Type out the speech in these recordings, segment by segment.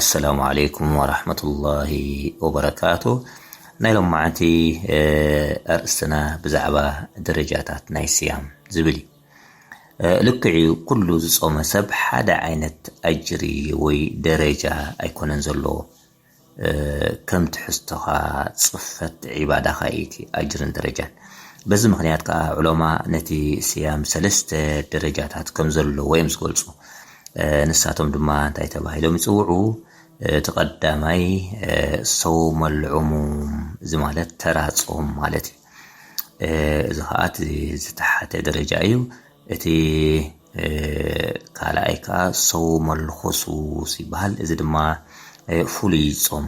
ኣሰላሙ ዓለይኩም ወራህመቱላሂ ወበረካቱ ናይ ሎማዓንቲ ኣርእስትና ብዛዕባ ደረጃታት ናይ ስያም ዝብል እዩ ልክዕ እዩ ኩሉ ዝጾመ ሰብ ሓደ ዓይነት ኣጅሪ ወይ ደረጃ ኣይኮነን ዘለዎ ከም ትሕዝቶኻ ጽፈት ዒባዳኻ ኢቲ ኣጅርን ደረጃን በዚ ምክንያት ከዓ ዑለማ ነቲ ስያም ሰለስተ ደረጃታት ከም ዘለዎ እዮም ዝገልጹ ንሳቶም ድማ እንታይ ተባሂሎም ይጽውዑ? እቲ ቀዳማይ ሰውም ኣልዑሙም እዚ ማለት ተራ ጾም ማለት እዩ። እዚ ኸኣ እቲ ዝተሓተ ደረጃ እዩ። እቲ ካልኣይ ከኣ ሰውም ኣልኹሱስ ይበሃል። እዚ ድማ ፍሉይ ጾም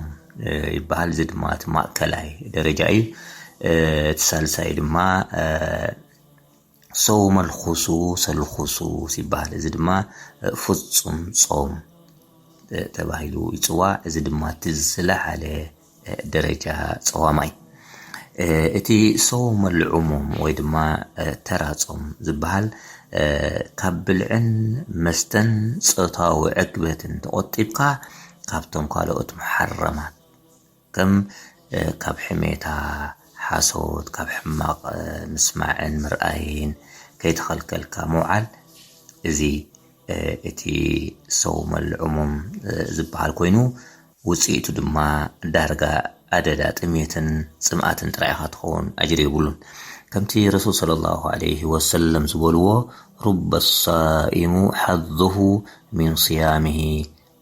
ይበሃል። እዚ ድማ እቲ ማእከላይ ደረጃ እዩ። እቲ ሳልሳይ ድማ ሰውመልኩሱ ሰልኩሱ ይባሃል እዚ ድማ ፍፁም ፆም ተባሂሉ ይፅዋዕ እዚ ድማ እቲ ዝለዓለ ደረጃ ፀዋማ እዩ እቲ ሰውመልዑሙም ወይ ድማ ተራ ፆም ዝበሃል ካብ ብልዕን መስተን ፆታዊ ዕግበትን ተቖጢብካ ካብቶም ካልኦት መሓረማት ከም ካብ ሕሜታ፣ ሓሶት፣ ካብ ሕማቕ ምስማዕን ምርኣይን ከይተኸልከልካ ምውዓል፣ እዚ እቲ ሰውመ ልዕሙም ዝበሃል ኮይኑ፣ ውጽኢቱ ድማ ዳርጋ ኣደዳ ጥሜትን ጽምኣትን ጥራይ ኢኻ ትኸውን፣ ኣጅሪ የብሉን። ከምቲ ረሱል ሰለላሁ ዓለይሂ ወሰለም ዝበልዎ፣ ሩበ ሳኢሙ ሓዙሁ ሚን ስያሚሂ፣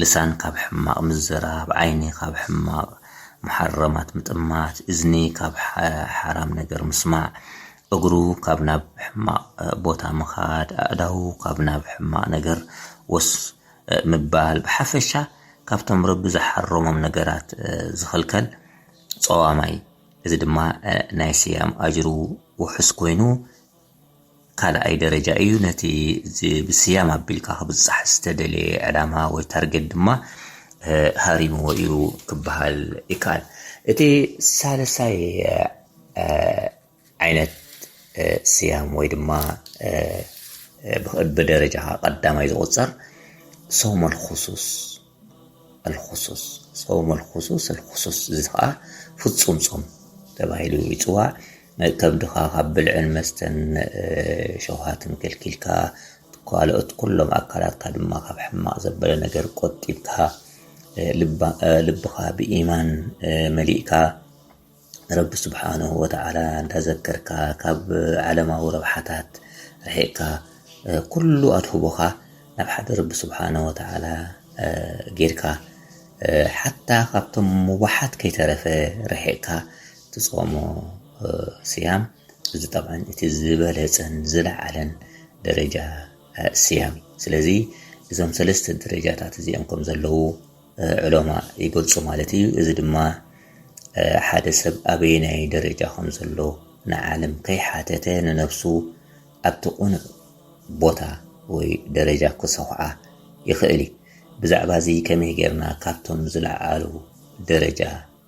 ልሳን ካብ ሕማቕ ምዝራብ፣ ዓይኒ ካብ ሕማቕ መሓረማት ምጥማት፣ እዝኒ ካብ ሓራም ነገር ምስማዕ፣ እግሩ ካብ ናብ ሕማቕ ቦታ ምኻድ፣ ኣእዳዉ ካብ ናብ ሕማቕ ነገር ወስ ምባል፣ ብሓፈሻ ካብቶም ረቢ ዝሓረሞም ነገራት ዝኽልከል ጸዋማይ፣ እዚ ድማ ናይ ስያም ኣጅሩ ውሑስ ኮይኑ፣ ካልኣይ ደረጃ እዩ። ነቲ እዚ ብስያም ኣቢልካ ክብጻሕ ዝተደልየ ዕላማ ወይ ታርጌት ድማ ሃሪምዎ እዩ ክበሃል ይከኣል። እቲ ሳልሳይ ዓይነት ስያም ወይ ድማ ብደረጃ ቀዳማይ ዝቑጸር ሶመል ኹሱስ ኣልኹሱስ፣ ጾም ኣልኹሱስ፣ ኣልኹሱስ እዚ ኸኣ ፍጹም ጾም ተባሂሉ ይጽዋዕ። ከብድኻ ካብ ብልዕን መስተን ሸውሃትን ከልኪልካ ካልኦት ኩሎም ኣካላትካ ድማ ካብ ሕማቕ ዘበለ ነገር ቆጢብካ ልብኻ ብኢማን መሊእካ ንረቢ ስብሓነሁ ወተዓላ እንዳዘከርካ ካብ ዓለማዊ ረብሓታት ርሒቕካ ኩሉ ኣድህቦኻ ናብ ሓደ ረቢ ስብሓነሁ ወተዓላ ጌርካ ሓታ ካብቶም ሙባሓት ከይተረፈ ርሒቕካ ትጾሞ ስያም እዚ ጠብዓን እቲ ዝበለጸን ዝለዓለን ደረጃ ስያም እዩ። ስለዚ እዞም ሰለስተ ደረጃታት እዚኦም ከም ዘለዉ ዑለማእ ይገልጹ ማለት እዩ። እዚ ድማ ሓደ ሰብ ኣበየናይ ደረጃ ከም ዘሎ ንዓለም ከይሓተተ ንነብሱ ኣብቲ ቁኑዕ ቦታ ወይ ደረጃ ክሰኹዓ ይኽእል እዩ። ብዛዕባ እዚ ከመይ ጌርና ካብቶም ዝለዓሉ ደረጃ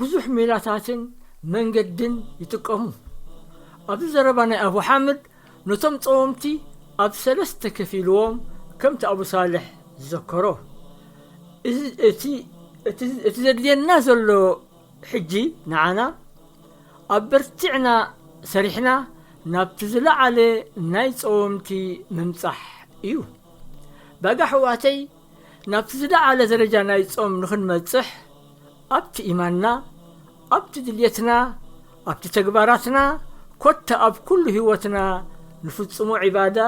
ብዙሕ ሜላታትን መንገድን ይጥቀሙ። ኣብዚ ዘረባ ናይ ኣቡ ሓምድ ነቶም ጸወምቲ ኣብ ሰለስተ ከፊልዎም ከምቲ ኣቡ ሳልሕ ዝዘከሮ። እዚ እቲ እቲ ዘድልየና ዘሎ ሕጂ ንዓና ኣበርቲዕና ሰሪሕና ናብቲ ዝለዓለ ናይ ጸወምቲ ምምጻሕ እዩ። ባጋ ኣሕዋተይ ናብቲ ዝለዓለ ደረጃ ናይ ጾም ንኽንበጽሕ ኣብቲ ኢማንና፣ ኣብቲ ድልየትና፣ ኣብቲ ተግባራትና ኮታ ኣብ ኩሉ ህይወትና ንፍጽሞ ዒባዳ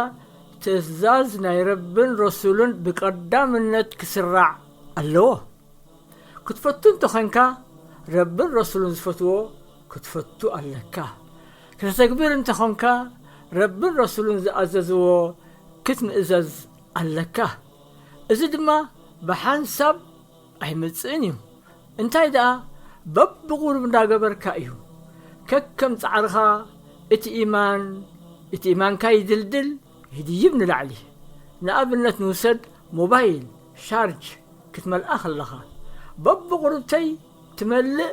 ትእዛዝ ናይ ረብን ረሱልን ብቀዳምነት ክስራዕ ኣለዎ። ክትፈቱ እንተ ዄንካ ረብን ረሱልን ዝፈትዎ ክትፈቱ ኣለካ። ከተተግብር እንተ ዀንካ ረብን ረሱልን ዝኣዘዝዎ ክትምእዘዝ ኣለካ እዚ ድማ ብሓንሳብ ኣይመጽእን እዩ እንታይ ደኣ በብቁሩብ እንዳገበርካ እዩ ከከም ጻዕርካ እቲ ኢማን እቲ ኢማንካ ይድልድል ይድይብ ንላዕሊ ንኣብነት ንውሰድ ሞባይል ሻርጅ ክትመልኣ ከለካ በብቁሩብተይ ትመልእ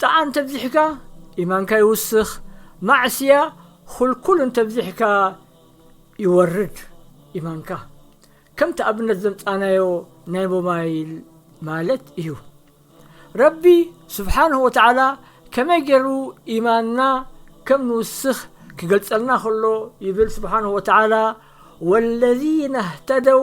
ጣዓ እንተብዚሕካ ኢማንካ ይውስኽ ማዕስያ ኹልኩል እንተብዚሕካ ይወርድ ኢማንካ ከምቲ ኣብነት ዘምጻናዮ ናይ ሞባይል ማለት እዩ ረቢ ሱብሓነሁ ወተዓላ ከመይ ጌሩ ኢማንና ከም ንውስኽ ክገልጸልና ኸሎ ይብል ሱብሓነሁ ወተዓላ ወለዚነ እህተደው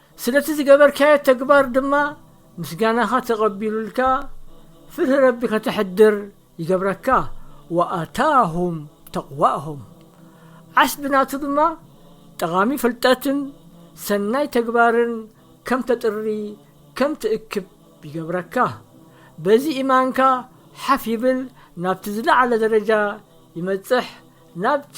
ስለቲ ዝገበርካዮ ተግባር ድማ ምስጋናኻ ተቐቢሉልካ ፍርሂ ረቢ ከተሕድር ይገብረካ፣ ወኣታሁም ተቕዋሁም ዓስቢ ናቱ ድማ ጠቓሚ ፍልጠትን ሰናይ ተግባርን ከም ተጥሪ ከም ትእክብ ይገብረካ፣ በዚ ኢማንካ ሓፍ ይብል ናብቲ ዝለዓለ ደረጃ ይመጽሕ ናብቲ